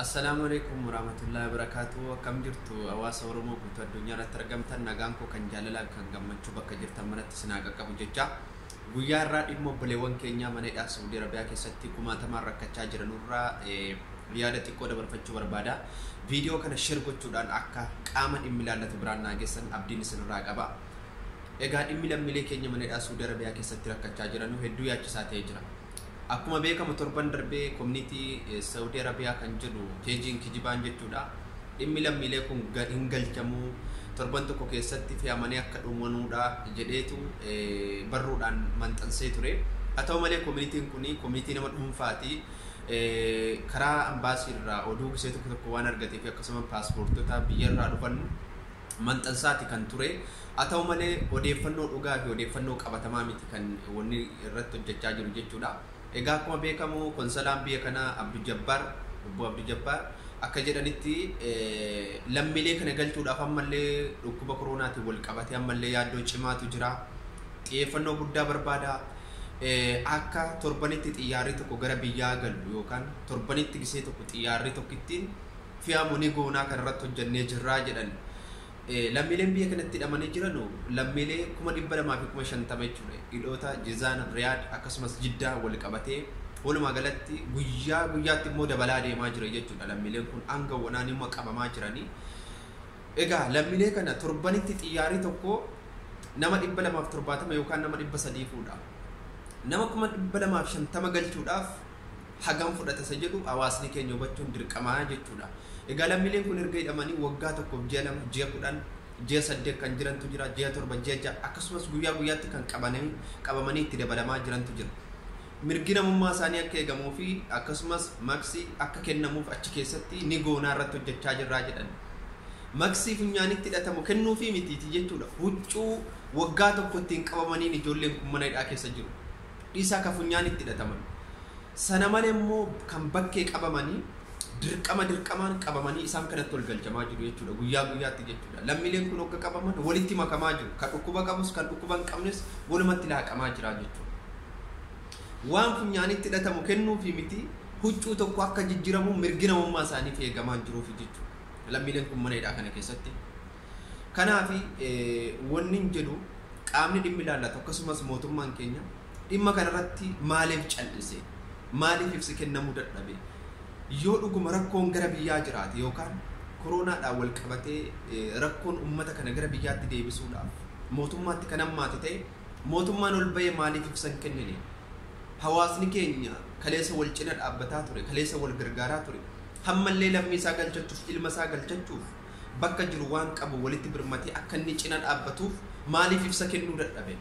Assalaamu alaikum waraamatullahi wabarakaatuhu akkam jirtu hawaasa Oromoo guutuu addunyaa irratti argamtan nagaan koo kan jaalalaa fi kan gammachuu bakka jirtan maratti isin haa qaqqabu jecha guyyaa irraa dhimma obboleewwan keenyaa mana hidhaa Saudi Arabiyaa keessatti kumaatamaan rakkachaa jiranurraa eh, yaada xiqqoo dabarfachuu barbaada viidiyoo kana share gochuudhaan akka qaama dhimmi ilaallatu biraan naa geessan abdiin isinirraa qaba egaa dhimmi lammiilee keenya mana hidhaa Saudi Arabiyaa keessatti rakkachaa jiranu hedduu yaachisaa ta'ee jira Akkuma beekamu torban darbee komniitii Saudi Arabiyaa kan jedhu peejiin kijibaan jechuudha. Dhimmi lammiilee kun hin galchamu torban tokko keessatti fe'amanii akka dhumanuudha jedheetu barruudhaan manxansee ture. Haa ta'u malee komniitiin kun komniitii nama dhuunfaati. Karaa ambaasii irraa oduu gisee tokko tokko waan argatee fi akkasuma paaspoortota biyyarraa dhufan maxxansaati kan ture. Haa ta'u malee odeeffannoo dhugaa fi odeeffannoo qabatamaa miti kan wanni irratti hojjechaa jiru jechuudha. Egaa akkuma beekamu konsalaan biyya kanaa Abdu Jabbaar, Obbo Abdu Jabbaar akka jedhanitti lammiilee kana galchuudhaaf ammallee dhukkuba koroonaatiin wal qabatee ammallee yaaddoo cimaatu jira. Xiyyeeffannoo guddaa barbaada. Akka torbanitti xiyyaarri tokko gara biyyaa galu yookaan torbanitti gisee tokko xiyyaarri tokkittiin fe'amu ni goonaa kana irratti hojjannee jirraa jedhan. Lammiileen biyya kanatti hidhamanii jiran lammiilee kuma dhibba lamaa fi kuma shantama jechuudha. Hidhoota Jizaan, Riyaad akkasumas Jiddaa wal qabatee walumaa galatti guyyaa guyyaatti immoo dabalaa deemaa jira jechuudha. Lammiileen kun hanga wanaa nima qabamaa jiranii. Egaa lammiilee kana torbanitti xiyyaarii tokko nama dhibba lamaaf torbaatama yookaan nama dhibba sadii fuudha. Nama kuma dhibba lamaaf shantama galchuudhaaf hagam fudhata isa jedhu hawaasni keenya hubachuun dirqama jechuudha. Egaa lammiileen kun erga hidhamanii waggaa tokkoof ji'a lama, ji'a kudhan, ji'a saddeet kan jirantu jira, ji'a torba, ji'a ja'a akkasumas guyyaa guyyaatti kan qabananii qabamanii itti dabalamaa jirantu jira. Mirgi namummaa isaanii akka eegamuu fi akkasumas maqsi akka kennamuuf achi keessatti ni goonaa irratti hojjechaa jirraa jedhan. Maqsi funyaanitti hidhatamu kennuufii mitiiti jechuudha. Huccuu waggaa tokko ittiin qabamaniin ijoolleen kun mana hidhaa keessa jiru. dhiisaa ka funyaanitti hidhataman, sana malee immoo kan bakkee qabamanii dirqama dirqamaan qabamanii isaan kanatti ol galchamaa jiru jechuu dha, guyyaa guyyaatti jechuu dha. Lammiileen kun hogga qabaman walitti makamaa jiru, ka dhukkuba qabus kan dhukkuba hin qabnes walumatti laaqamaa jira jechuu dha. Waan funyaanitti hidhatamu kennuufii miti, huccuu tokko akka jijjiramu mirgi namummaa isaaniif eegamaa hin jiruufi jechuu dha. Lammiileen kun mana hidhaa kana keessatti Kanaafi wannin jedhu qaamni dhimmi ilaallatu akkasumas mootummaan keenya dhimma kanarratti maaliif cal'ise? Maaliif ibsi kennamuu dadhabe? Yoo dhuguma rakkoon gara biyyaa jiraate yookaan koroonaadhaan wal qabatee rakkoon ummata kana gara biyyaatti deebisuudhaaf mootummaatti kan hammaate ta'e mootummaan ol ba'ee maaliif ibsa hin kennine? Hawaasni keenya kaleessa wal cina dhaabbataa ture, kaleessa wal gargaaraa ture. Hammallee lammii isaa galchachuuf, ilma isaa galchachuuf bakka jiru waan qabu walitti birmatee akka inni cina dhaabbatuuf maaliif ibsa kennuu dadhabe?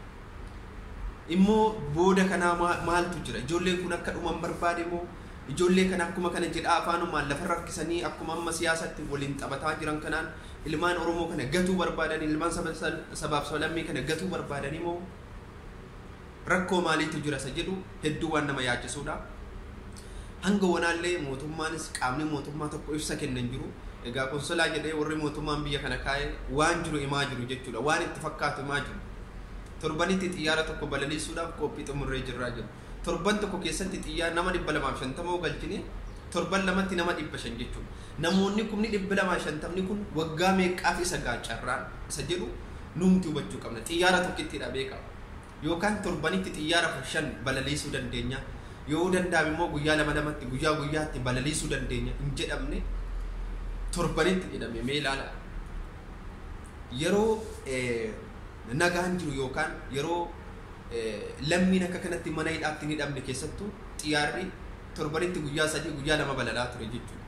Immoo booda kanaa maa- maaltu jira? Ijoolleen kun akka dhuman barbaade moo? Ijoollee kana akkuma kana jedhaa afaanumaan lafarra harkisanii akkuma amma siyaasatti waliin taphataa jiran kanaan ilmaan Oromoo kana gatuu barbaadanii, ilmaan saba- sabaaf sablammii kana gatuu barbaadanii moo? Rakkoo maaliitu jira isa jedhu hedduu waan nama yaachisuudha. Hanga wanaallee mootummaanis qaamni mootummaa tokko ibsa kenne hin jiru. Egaa konsolaa jedhee warri mootummaan biyya kana kaa'e waan jiru himaa jiru jechuudha. Waan itti fakkaatu himaa jiru. Torbanitti xiyyaara tokko balaliisuudhaaf qophii xumurree jirraa jedhu. Torban tokko keessatti xiyyaara nama 250 yoo galchine torban lamatti nama 500 jechuudha. Namoonni kumni 250 kun waggaa meeqqaaf isa ga'a carraan isa jedhu nuumti hubachuu qabna. Xiyyaara tokkittiidha beekaa. Yookaan torbanitti xiyyaara 15 balaliisuu dandeenya, yoo danda'ame immoo guyyaa lama lamatti, guyyaa guyyaatti balaliisuu dandeenya hin jedhamne torbanitti jedhame mee ilaalaa. Yeroo nagaan jiru yookaan yeroo lammiin akka kanatti mana hidhaatti hin hidhamne keessattuu xiyyaarri torbanitti guyyaa sadii guyyaa lama balalaa ture jechuudha.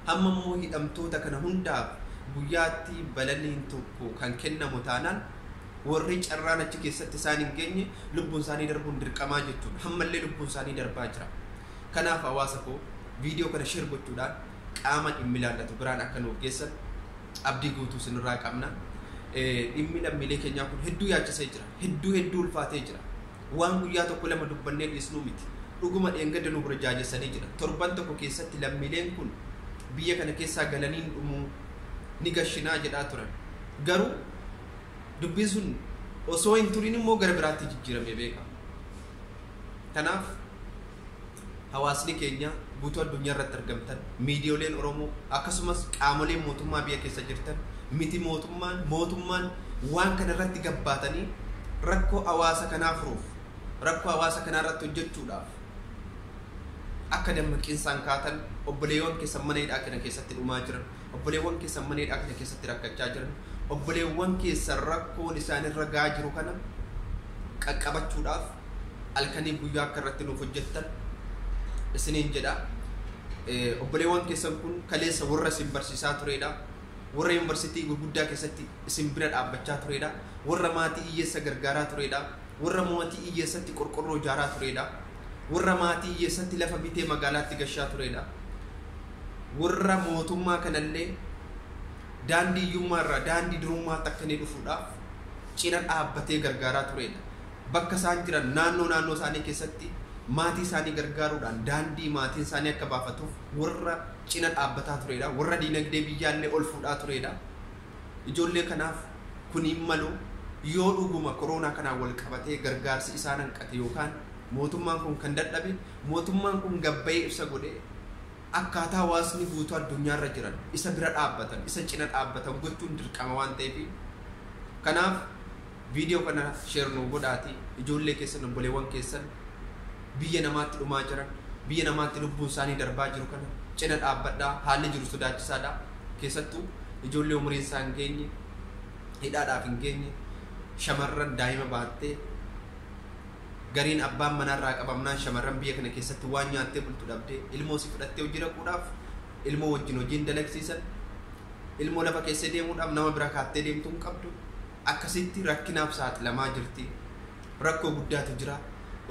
Amma immoo hidhamtoota kana hundaaf guyyaatti balaliin tokko kan kennamu taanaan Warri carraan achi keessatti isaan hin geenye lubbuun isaanii darbuun dirqamaa jechuudha. Hammallee lubbuun isaanii darbaa jira. Kanaaf hawaasa koo viidiyoo kana share gochuudhaan qaama dhimmi ilaallatu biraan akka nuuf geessan abdii guutuu isinirraa qabna. Dhimmi lammiilee keenyaa kun hedduu yaachisee jira. Hedduu hedduu ulfaatee jira. Waan guyyaa tokko lama dubbannee dhiisnuu miti. Dhuguma dheengadda nu burjaajessanii jira. Torban tokko keessatti lammiileen kun biyya kana keessaa galaniin dhumuu ni gashinaa jedhaa turan. Garuu dubbiin sun osoo hin turin immoo gara biraatti jijjiiramee beeka. Kanaaf hawaasni keenya guutuu addunyaa irratti argamtan miidiyooleen Oromoo akkasumas qaamoleen mootummaa biyya keessa jirtan miti mootummaan mootummaan waan kana irratti gabbaatanii rakkoo hawaasa kanaa furuuf rakkoo hawaasa kanaa irratti hojjechuudhaaf akka dammaqinsaan kaatan obboleewwan keessan mana hidhaa kana keessatti dhumaa jiran obboleewwan keessan mana hidhaa kana keessatti rakkachaa jiran obboleewwan keessan rakkoon isaan irra gaa jiru kana qaqqabachuudhaaf halkanii guyyaa akka irratti nuuf hojjettan isiniin jedha obboleewwan keessan kun kaleessa warra isin barsiisaa turedha warra yuunivarsiitii gurguddaa keessatti isin bira dhaabbachaa turedha warra maatii hiyyeessa gargaaraa turedha warra maatii hiyyeessatti qorqorroo ijaaraa turedha warra maatii hiyyeessatti lafa bitee magaalaatti gashaa turedha warra mootummaa kanallee daandii hiyyummaa irraa daandii durummaatti akka inni dhufuudhaaf cina dhaabbatee gargaaraa tureedha. Bakka isaan jiran naannoo naannoo isaanii keessatti maatii isaanii gargaaruudhaan daandii maatiin isaanii akka baafatuuf warra cina dhaabbataa tureedha. Warra diinagdee biyyaallee ol fuudhaa tureedha. Ijoollee kanaaf kuniin maloo yoo dhuguma koroonaa kanaan wal qabatee gargaarsi isaan hanqate yookaan mootummaan kun kan dadhabe Mootummaan kun gabbayee ibsa godhee akkaataa hawaasni guutuu addunyaarra jiran isa bira dhaabbatan, isa cina dhaabbatan gochuun dirqama waan ta'eefi. Kanaaf video kana share nuu godhaatii ijoollee keessan, obboleewwan keessan biyya namaatti dhumaa jiran, biyya namaatti lubbuun isaanii darbaa jiru kana cina dhaabbadhaa. Haalli jiru sodaachisaadha. Keessattuu ijoollee umuriin isaa hin geenye, hidhaadhaaf hin geenye, shamarran daa'ima baattee, Gariin abbaan manaa irraa qabamnaan shamarran biyya kana keessatti waan nyaattee bultu dhabdee ilmoo si fudhattee hojii dhaquudhaaf ilmoo wajjin hojii hin dalagsiisan ilmoo lafa keessee deemuudhaaf nama bira kaattee deemtu hin qabdu akkasitti rakkinaaf saaxilamaa jirti rakkoo guddaatu jira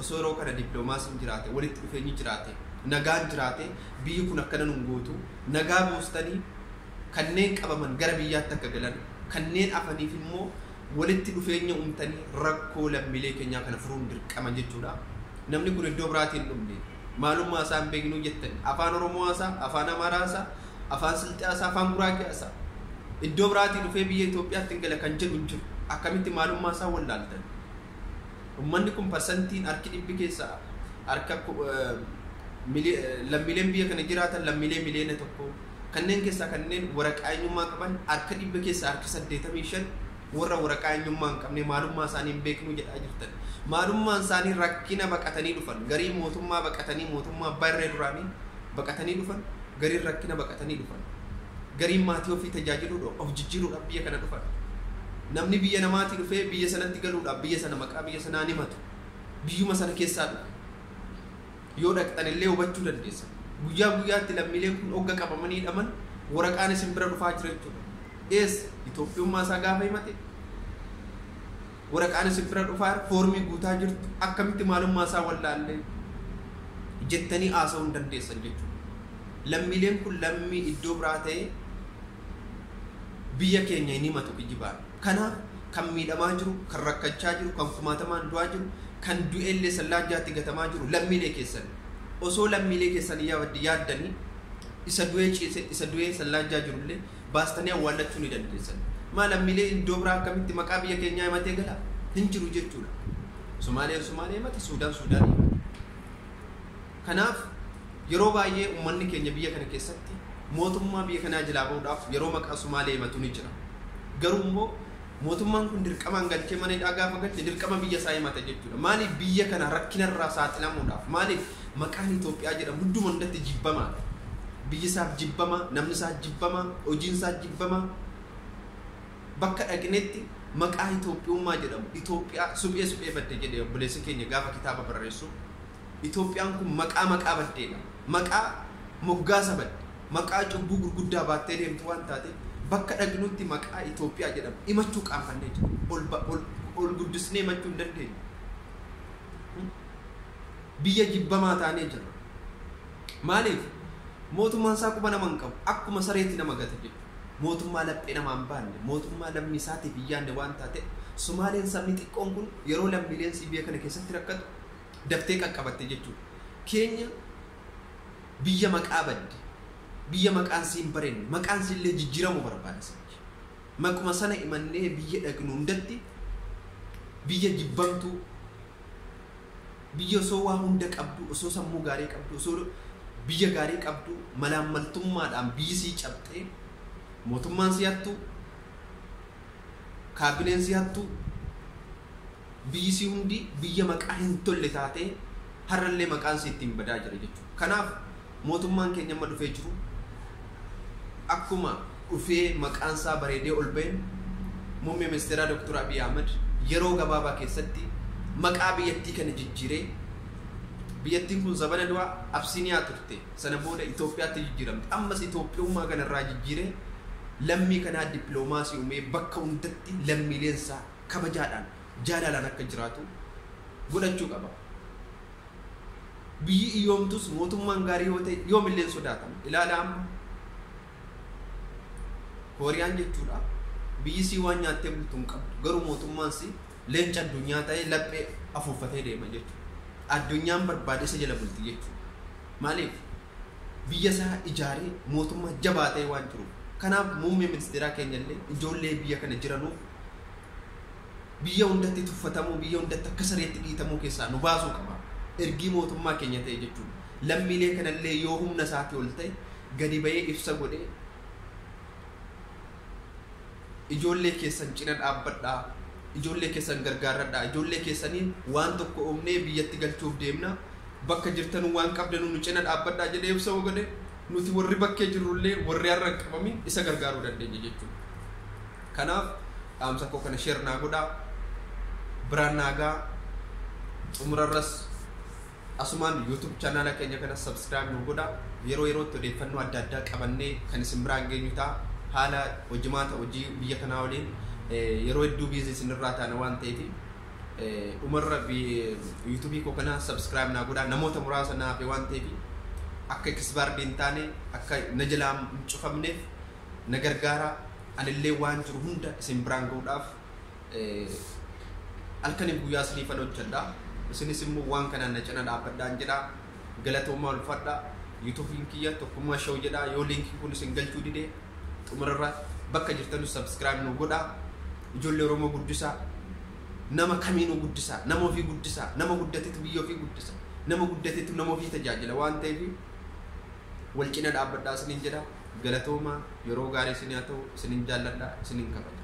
osoo yeroo kana dippiloomaasiin jiraate walitti dhufeenyi jiraate nagaan jiraate biyyi kun akkana nun gootu nagaa buustanii kanneen qabaman gara biyyaatti akka galan kanneen afaniif immoo walitti dhufeenya uumtanii rakkoo lammiilee keenyaa kana furuun dirqama jechuudha. Namni kun iddoo biraatii hin dhufne. Maalummaa isaa hin beeknuu jettanii afaan Oromoo haasaa, afaan Amaaraa haasaa, afaan Silxee haasaa, afaan Guraagee haasaa. Iddoo biraatii dhufee biyya Itoophiyaatti hin gala kan jedhu hin jiru. Akkamitti maalummaa isaa wallaaltan? Uummanni kun parsantiin harki dhibbi keessaa harka lammiileen biyya kana jiraatan lammiilee miliyoona tokko Kanneen keessaa kanneen waraqaa eenyummaa qaban harka dhibba keessaa harki 85 warra waraqaa eenyummaa hin qabne maalummaa isaanii hin beeknu jedhaa jirtan. Maalummaan isaanii rakkina baqatanii dhufan. Gariin mootummaa baqatanii mootummaa abbaa irree duraanii baqatanii dhufan. Gariin rakkina baqatanii dhufan. Gariin maatii ofii tajaajiluudhaaf of jijjiiruudhaaf biyya kana dhufan. Namni biyya namaatii dhufee biyya sanatti galuudhaaf biyya sana maqaa biyya sanaan himatu. Biyyuma sana keessaa dhufe. Yoo dhaqxan illee hubachuu dandeessan. Guyyaa guyyaatti lammiileen kun ogga qabamanii hidhaman waraqaan isin bira dhufaa jira jechuudha. Eessa? Itoophiyummaa isaa gaafa himate waraqaan isin bira dhufaa jira, foormii guutaa jirtu, akkamitti maalummaa isaa wallaallee jettanii haasa'uu hin dandeessan jechuudha. Lammiileen kun lammii iddoo biraa ta'ee biyya keenya hin himatu kijibaan. Kanaaf kan miidhamaa jiru, kan rakkachaa jiru, kan kumaatamaan du'aa jiru, kan du'eellee sallaan jaatti gatamaa jiru lammiilee keessani. Osoo lammiilee keessanii yaaddanii isa du'ee ciise, isa du'ee sallaan jaa jirullee baastanii awwaallachuu ni dandeessan. Maa lammiilee iddoo biraa akkamitti maqaa biyya keenyaa himatee gala? Hin jiru jechuudha. Somaaliyaan Somaaliyaa himata, Suudaan Suudaanii himata. Kanaaf yeroo baay'ee ummanni keenya biyya kana keessatti mootummaa biyya kanaa jilaa ba'uudhaaf yeroo maqaa Sumaalee himatu ni jira. Garuu immoo mootummaan kun dirqamaan galchee mana hidhaa gaafa galche dirqama biyya isaa himata jechuudha. Maaliif biyya kana rakkina irraa saaxilamuudhaaf maaliif maqaan Itoophiyaa jedhamu hunduma hundatti jibbamaadha. Biyyi isaaf jibbamaa, namni isaas jibbamaa, hojiin isaas jibbamaa. Bakka dhaqnetti maqaa Itoophiyummaa jedhamu Itoophiyaa suphee supheefatte jedhe obboleessi keenya gaafa kitaaba barreessu. Itoophiyaan kun maqaa maqaa baddeedha. Maqaa moggaasa badde. Maqaa cubbuu gurguddaa baattee deemtu waan taateef bakka dhaqnutti maqaa Itoophiyaa jedhamu himachuu qaanfannee jirra. Ol ba ol ol guddisnee himachuu hin dandeenyu. Biyya jibbamaa taanee jirra. Maaliif? Mootummaan isaa quba nama hin qabu. Akkuma sareeti nama gata jechuudha. Mootummaa laphee namaa hin baanne, mootummaa lammii isaatiif hin yaadne waan taateef Somaaleen sabni xiqqoon kun yeroo lammiileen CBA kana keessatti rakkatu daftee qaqqabatte jechuudha. Keenya biyya maqaa badde, biyya maqaan siin barenne, maqaan siillee jijjiiramu barbaada sanyi. Maquma sana imannee biyya dhaqnu hundatti biyya jibbamtuu, biyya osoo waa hunda qabdu, osoo sammuu gaarii qabdu, osoo biyya gaarii qabdu malaammaltummaadhaan biyyi sii cabxee mootummaan si hattu, kaabineen si hattu, Biyyi isii hundi biyya maqaa hin tolle taatee har'allee maqaan isii ittiin badaa jira jechuudha. Kanaaf mootummaan keenya amma dhufee jiru akkuma dhufee maqaan isaa bareedee ol ba'een muummee ministeeraa Dr. Abiy Ahmed yeroo gabaabaa keessatti maqaa biyyattii kana jijjiiree biyyattiin kun zabana du'a Absiiniyaa turte sana booda Itoophiyaatti jijjiiramte ammas Itoophiyummaa kanarraa jijjiiree lammii kanaa dippiloomaasii uumee bakka hundatti lammiileen isaa kabajaadhaan, jaalalaan akka jiraatu godhachuu qaba. Biyyi iyyoomtus mootummaan gaarii yoo ta'e yoomillee hin sodaatamu. Ilaalaa amma Kooriyaan jechuudha biyyi sii waan nyaattee bultu hin qabdu garuu mootummaan sii leenca addunyaa ta'ee laphee afuuffatee deema jechuudha. Addunyaan barbaade isa jala bulti jechuudha. Maaliif? Biyya isaa ijaaree mootummaa jabaa ta'ee waan jiruuf. Kanaaf muummee ministeeraa keenyallee ijoollee biyya kana jiranuuf Biyya hundatti tuffatamuu, biyya hundatti akka sareetti dhiitamuu keessaa nu baasuu qaba. Ergii mootummaa keenya ta'e jechuudha. Lammiilee kanallee yoo humna isaatii ol ta'e gadi ba'ee ibsa godhee ijoollee keessan cina dhaabbadhaa, ijoollee keessan gargaarradhaa, ijoollee keessaniin waan tokko uumnee biyyatti galchuuf deemna, bakka jirtanuu waan qabdanuu nu cina dhaabbadhaa jedhee ibsa yoo godhe nuti warri bakkee jirrullee warri har'a hin qabamin isa gargaaruu dandeenya jechuudha. Kanaaf dhaamsa koo kana share naa godhaa biraan naa gahaa xumurarras asumaan YouTube channel keenya kana subscribe nu godha yeroo yerootti odeeffannoo adda addaa qabannee kan isin biraan geenyu ta'a haala hojimaata hojii biyya kanaa waliin eh, yeroo hedduu biizii isinirraa taana waan ta'eef eh, dhumarra bi- YouTube koo kana subscribe naa godha namoota muraasa naa hafe waan ta'eef akka kisbaardii hin taane akka na jalaa hin cufamneef na gargaaraa anillee waan jiru hunda isin biraan ga'uudhaaf halkaniif guyyaa isiniifan hojjedha isinis immoo waan kanaan na cina dhaabbadhaan jedha galatoomaa ulfadha yuutuubiin kiyya tokkummaa show jedha yoo liinkii kun isin galchuu dide xumurarra bakka jirtanu sabskiraayib nu godha ijoollee oromoo guddisaa nama kamiinuu guddisaa nama ofii guddisaa nama guddatetu biyya ofii guddisa nama guddatetu nama ofii tajaajila waan ta'eef wal cina dhaabbadhaa isiniin jedha Galatoomaa yeroo gaarii isinii haa ta'u isinin jaalladha isinin kabaja.